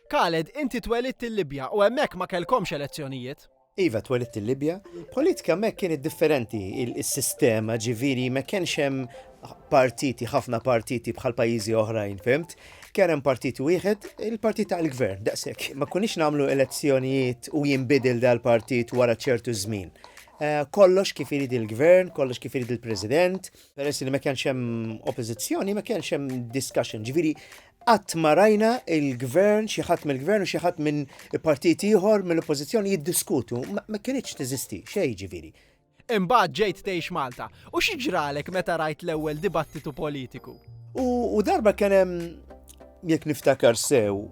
Khaled, inti twelidt il-Libja u hemmhekk ma kellkomx elezzjonijiet? Iva, twelidt il-Libja. Politika hemmhekk kienet differenti is-sistema, ġifieri ma kienx hemm partiti, ħafna partiti bħal pajjiżi oħrajn, fimt? Kien hemm partit wieħed, il-partit tal-gvern, daqshekk. Ma kunix nagħmlu elezzjonijiet u jinbidel dal-partit wara ċertu żmien. Eh, kollox kif irid il-gvern, kollox kif irid il-president, peress li ma kienx hemm oppożizzjoni, ma kienx hemm discussion. Ġifieri Qatt ma rajna il-Gvern, xi ħadd mill-Gvern u xi ħadd minn partit ieħor mill-Oppożizzjoni jiddiskutu. Ma kinitx teżisti, x'e jiġifieri? Imbagħad ġejt tgħix Malta. U xi ġralek meta rajt l-ewwel dibattitu politiku? U darba kien hemm, jekk niftakar sew,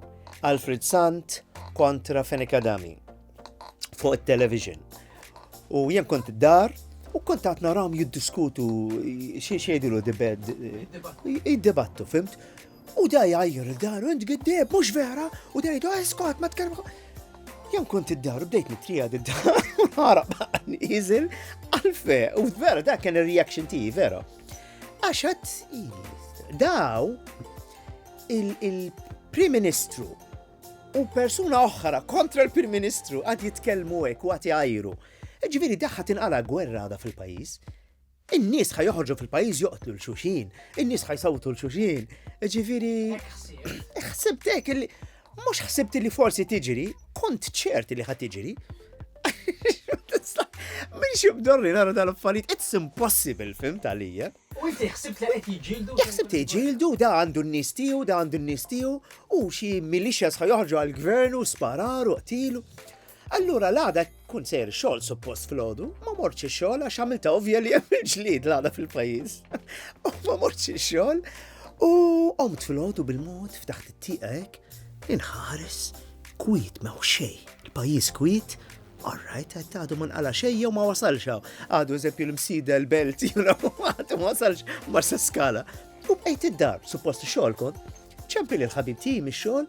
Alfred Sant kontra Fenech Adami. fuq il-television. U jien kont dar u kont għat naram jiddiskutu xie xiedilu dibed. Id-debattu, fimt? U daj għajr dar, int giddeb, mux vera, u daj daj, skot, ma tkellmu. Jien kont id-dar, bdejt nitrija d-dar, għarab, nizil, għalfe, u vera, da kien il-reaction ti, vera. Għaxat, daw, il-Prim Ministru u persuna oħra kontra l-Prim Ministru għad jitkellmu hekk u għad jgħajru. Ġifieri daħħa tinqala gwerra għada fil-pajjiż. In-nies ħaj joħorġu fil-pajjiż joqtlu l-xuxin, in-nies ħaj sawtu l-xuxin. Ġifieri ħsibtek li mhux ħsibt li forsi tiġri, kont ċert li ħad tiġri. Min xibdorri nara dal-affarijiet, it's impossible film tal-lija. U inti ħsibt li qed jiġġieldu? Jekk ħsibt li jġieldu, da għandu n-nies tiegħu, da għandu n-nies tiegħu, u xi militias ħa joħorġu għall-gvern u sparar u qtilu. Allura l-għada kun sejr xogħol suppost fil-ħodu, ma morċi xogħol għax għamilta ovvja li hemm il-ġlid l-għada fil-pajjiż. U ma morċi xogħol u qomt fil-ħodu bil-mod f'taħt it-tieqa hekk inħares kwit ma xej. Il-pajjiż kwit All right, għed għadu man għala xej jew ma wasalx għaw. Għadu eżempju l-msida l-belt, juna għadu ma wasalx ma s-skala. U bejt id-dar, suppost xol kon, ċempi li l-ħabib ti mi xol,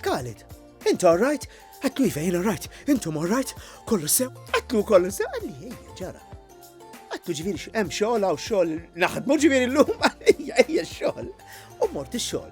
kalit. Intu all right, għatlu jvejn all right, intu all right, kollu sew, għatlu kollu sew, għalli ġara. Għatlu ġiviri xem xol għaw xol naħdmu ġiviri l-lum għalli ħajja xogħol. U mort ix-xogħol.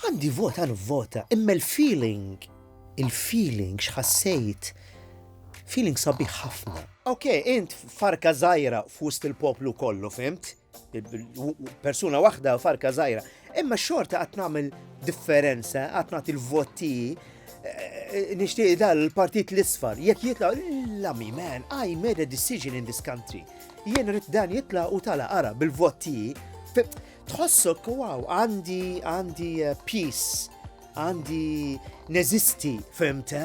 Għandi vota nivvota, imma l-feeling, il-feeling x'ħassejt, feeling sabiħ ħafna. Ok, int farka żgħira f'wust il-poplu kollu, fimt? Persuna waħda farka żgħira. Imma xorta qatt nagħmel differenza, qatt nagħti l-voti eh, nixtieq dal l-partit l-isfar, jekk jitla' l-lami man, I made a decision in this country. Jien rrit dan jitla' u tala ara bil-voti Tħossok, wow, għandi, għandi eh, peace, għandi neżisti, fimte?